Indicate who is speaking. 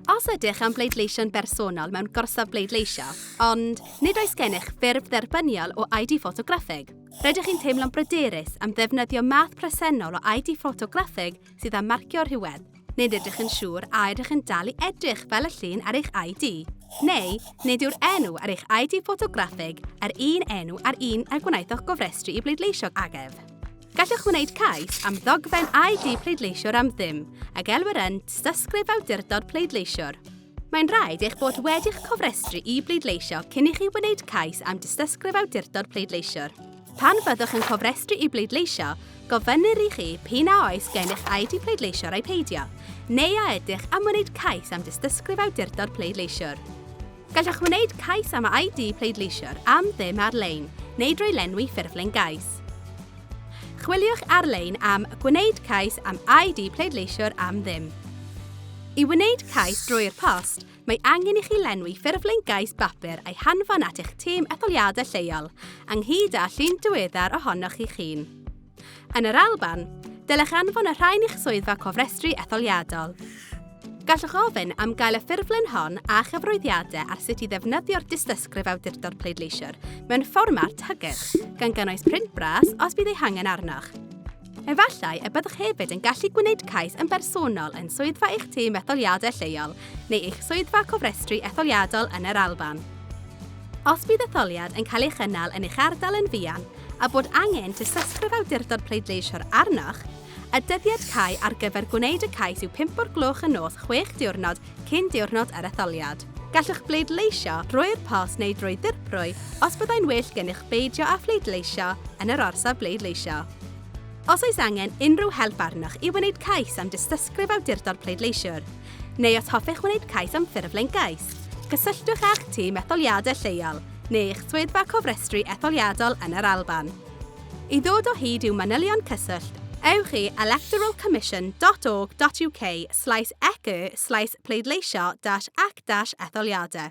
Speaker 1: Os ydych am bleidleisio'n bersonol mewn gorsaf bleidleisio, ond nid oes gennych ffurf dderbyniol o ID ffotograffig, rydych chi'n teimlo'n bryderus am ddefnyddio math presennol o ID ffotograffig sydd â marcio rhywedd, nid ydych yn siŵr a ydych yn dal i edrych fel y llun ar eich ID, neu nid yw'r enw ar eich ID ffotograffig yr un enw ar un a gwnaethoch gofrestru i bleidleisio agef. Gallwch wneud cais am ddogfen ID pleidleisiwr am ddim a gelwir yn Dystysgrif Awdurdod Pleidleisiwr. Mae'n rhaid eich bod wedi'ch cofrestru i bleidleisio cyn i chi wneud cais am Dystysgrif Awdurdod Pleidleisiwr. Pan fyddwch yn cofrestru i bleidleisio, gofynnir i chi p'un a oes gennych ID pleidleisiwr ai peidio, neu a ydych am wneud cais am Dystysgrif Awdurdod Pleidleisiwr. Gallwch wneud cais am ID pleidleisiwr am ddim ar-lein neu drwy lenwi ffurflen gais. Chwiliwch ar-lein am Gwneud cais am ID pleidleisiwr am ddim. I wneud cais drwy'r post, mae angen i chi lenwi ffurflen gais bapur a'i hanfon at eich tîm etholiadau lleol, ynghyd â llun diweddar ohonoch chi'ch hun. Yn yr Alban, dylech anfon y rhain i'ch swyddfa cofrestru etholiadol. Gallwch ofyn am gael y ffurflen hon a chyfroeddiadau ar sut i ddefnyddio'r dystysgrif awdurdod pleidleisiwr mewn fformat hygyrch, gan gynnwys print bras os bydd ei hangen arnoch. Efallai y byddwch hefyd yn gallu gwneud cais yn bersonol yn swyddfa eich tîm etholiadau lleol neu eich swyddfa cofrestru etholiadol yn yr Alban. Os bydd etholiad yn cael ei chynnal yn eich ardal yn fuan, a bod angen tystysgrif awdurdod pleidleisio arnoch, y dyddiad cau ar gyfer gwneud y cais yw pump o'r gloch y nos chwech diwrnod cyn diwrnod yr etholiad. Gallwch bleidleisio drwy'r post neu drwy ddirprwy os byddai'n well gennych beidio â phleidleisio yn yr orsaf bleidleisio. Os oes angen unrhyw help arnoch i wneud cais am dystysgrif awdurdod pleidleisiwr, neu os hoffech wneud cais am ffurflen gais, cysylltwch â'ch tîm etholiadau lleol. neu eich swyddfa cofrestru etholiadol yn yr Alban. I ddod o hyd i'w manylion cyswllt, ewch i electoralcommission.org.uk slaes ec-y slaes pleidleisio dash ac dash etholiadau.